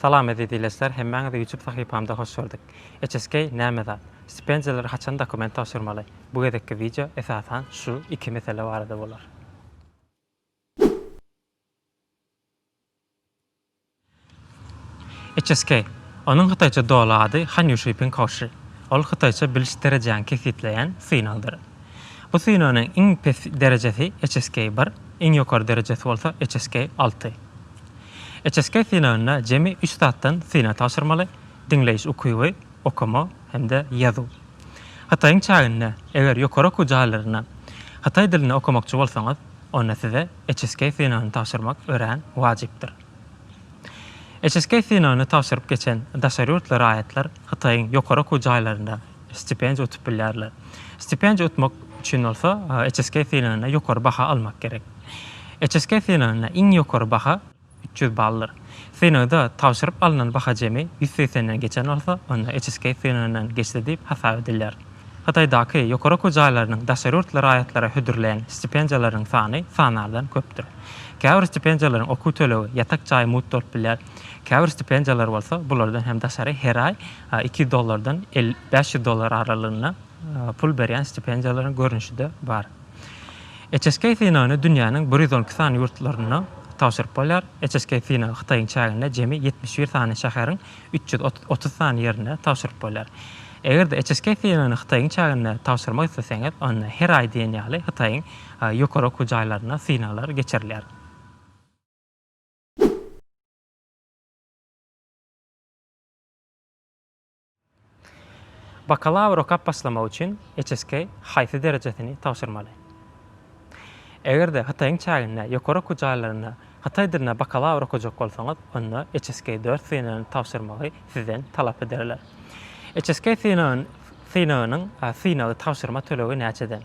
Salam eziz ileçler hemmäňizi ýutup sahypamda hoş gördük. HSK näme zat? Stipendiýalary haçan dokument tabşyrmaly? Bu gezekki wideo esasan şu iki mesele barada bolar. HSK, onuň hytaýça doly ady Han Ýuşi Ping Hao Shi, ol hytaýça biliş derejäňi kesgitleýän synagdyr. Bu synagyň iň pes derejesi HSK bir, iň ýokary derejesi bolsa HSK alty. HSK synagynda jemi üç zatdan synag tabşyrmaly, diňleýiş ukyby, okama hem-de ýazuw. Hytaýyň çäginde, eger ýokary okuw jaýlarynda hytaý dilini okamakçy bolsaňyz, onda size HSK synagyny tabşyrmak örän wajypdyr. HSK synagyny tabşyryp geçen daşary ýurtly raýatlar Hytaýyň ýokary okuw jaýlarynda stipendiýa utup bilýärler. Stipendiýa utmak üçin bolsa HSK synagynda ýokary baha almak gerek. HSK synagynda iň ýokary baha üç ýüz baldyr. Synagda tabşyryp alnan baha jemi ýüz segsen den geçen bolsa, onda HSK synagyndan geçdi diýip hasap edilýär. Hytaýdaky ýokary okuw jaýlarynyň daşary ýurtly raýatlara hödürleýän stipendiýalarynyň sany sanardan köpdür. Käbir stipendiýalaryň okuw tölegi, ýatak jaýy mugt bolup bilýär. Käbir stipendiýalar bolsa bulardan hem daşary her aý iki ýüz dollardan bäş ýüz dollar aralygynda pul berýän stipendiýalaryň görnüşi-de bar. HSK synagyny dünýäniň bir ýüz on iki sany ýurtlarynda tabşyryp bolýar. HSK synagy Hytaýyň çäginde jemi ýetmiş bir sany şäheriň üç ýüz otuz sany ýerinde tabşyryp bolýar. Eger-de HSK filmini Hytaýyň çäginde tabşyrmak isleseňiz, onda her aý diýen ýaly Hytaýyň ýokary okuw jaýlarynda synaglar geçirilýär. Bakalawr okap başlamak üçin HSK haýsy derejesini tabşyrmaly? Eger-de Hytaýyň çäginde ýokary okuw jaýlarynda hytaý dilinde bakalawr okajak bolsaňyz, onda HSK dört synagyny tabşyrmagy sizden talap ederler. HSK synagynyň synagy tabşyrma tölegi näçeden?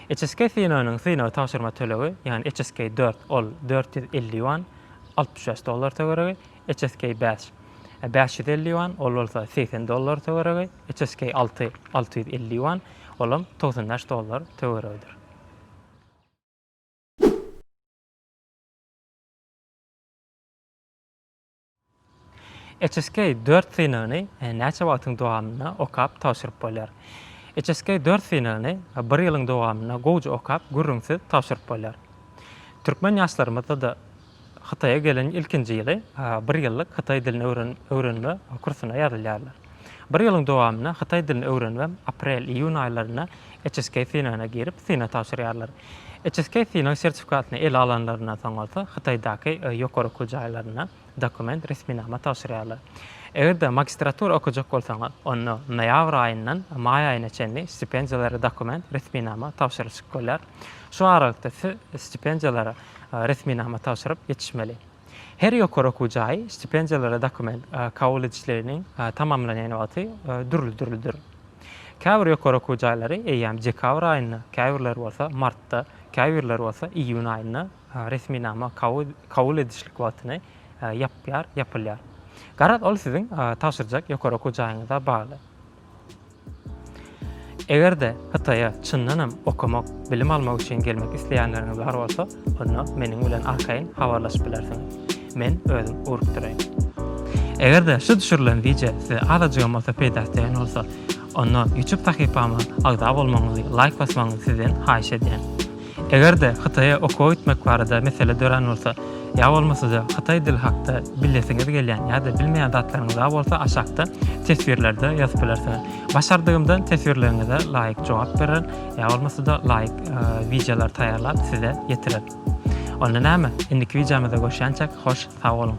HSK synagynyň synagy tabşyrma tölegi, ýagny HSK dört, ol dört ýüz elli ýuan, altmyş bäş dollar töweregi, HSK bäş, bäş ýüz elli ýuan, ol bolsa segsen dollar töweregi, HSK alty, alty ýüz elli ýuan, olam togsan bäş dollar töweregidir. HSK dört synagyny näçe wagtyň dowamynda okap tabşyryp bolýar? HSK dört synagyny bir ýylyň dowamynda gowja okap, gürrüňsiz tabşyryp bolýar. Türkmen ýaşlarymyzda-da Hytaýa gelen ilkinji ýyly bir ýyllyk hytaý dilini öwrenme kursuna ýazylýarlar. Bir ýylyň dowamynda hytaý dilini öwrenmä aprel-iýun aýlarynda HSK synagyna girip, synag tabşyrýarlar. HSK synag sertifikatyny ele alanlaryndan soň bolsa Hytaýdaky ýokary okuw jaýlaryna dokument, resminama, tabşyrýarlar. Eger-de magistratura okajak bolsaňyz, onda noýabr aýyndan maý aýyna çenli stipendiýalara dokument, resminama, tabşyryşyp bolýar. Şu aralykda siz stipendiýalara resminama tabşyryp ýetişmeli. Her ýokary okuw jaýy stipendiýalara dokument kabul edişligini tamamlanýan wagty dürli-dürlidir. Käbir ýokary okuw jaýlary eýýäm dekabr aýynda, käbirleri bolsa martda, käbirleri bolsa iýun aýynda resminama kabul edişlik wagtyny ýapýar, ýapylýar. Garaz, ol siziň tabşyrjak ýokary okuw jaýyňyza bagly. Eger-de Hytaýa çyndanam okamak, bilim almak üçin gelmek isleýänleriňiz bar bolsa, onda meniň bilen arkaýyn habarlaşyp bilersiňiz. Men özüm urup duraýyn. Eger-de şu düşürilen wideo size azajygam bolsa peýdasy degen bolsa, onda YouTube sahypama agza bolmagyňyzy, laýk basmagyňyzy sizden haýyş edýän. Eger-de Hytaýa okuwa gitmek barada mesele dörän bolsa, ýa bolmasa-da hytaý dili hakda bilesiňiz gelýän ýa-da bilmeýän zatlaryňyz bar bolsa aşakda teswirlerde ýazyp bilersiňiz. Başardygymdan teswirleriňize laýyk jogap bererin, ýa bolmasa-da laýyk wideolary taýýarlap size ýetirerin. Onda näme, indiki wideomyza görşýänçäk hoş sag boluň.